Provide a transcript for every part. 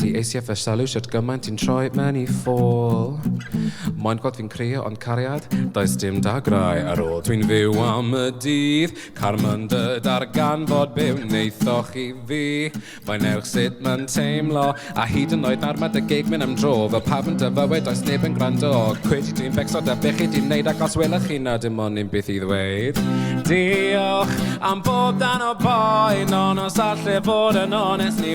Ti eisiau fy sylw shwt gymaint ti'n troi mewn i ffôl Moyn gweld fi'n crio ond cariad Does dim dagrau ar ôl Dwi'n fyw am y dydd Carmon dy darganfod be wnaethoch i fi Mae'n ewch sut mae'n teimlo A hyd yn oed nawr mae dy gig mynd am dro Fel pawb yn dy fywyd does neb yn gwrando Cwyd i ti'n becso da beth chi di wneud Ac os welwch chi na dim ond un beth i ddweud Diolch am bob dan o boen Ond os allai fod yn onest ni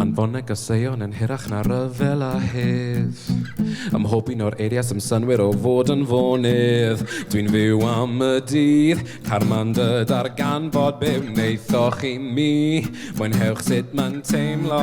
Anfoneg a seion yn hirach na rhyfel a hedd Ym mhob un o'r eiriau sy'n synwyr o fod yn fonydd Dwi'n fyw am y dydd, carma'n dy darganfod Be wnaethoch i mi? Mwynhewch sut mae'n teimlo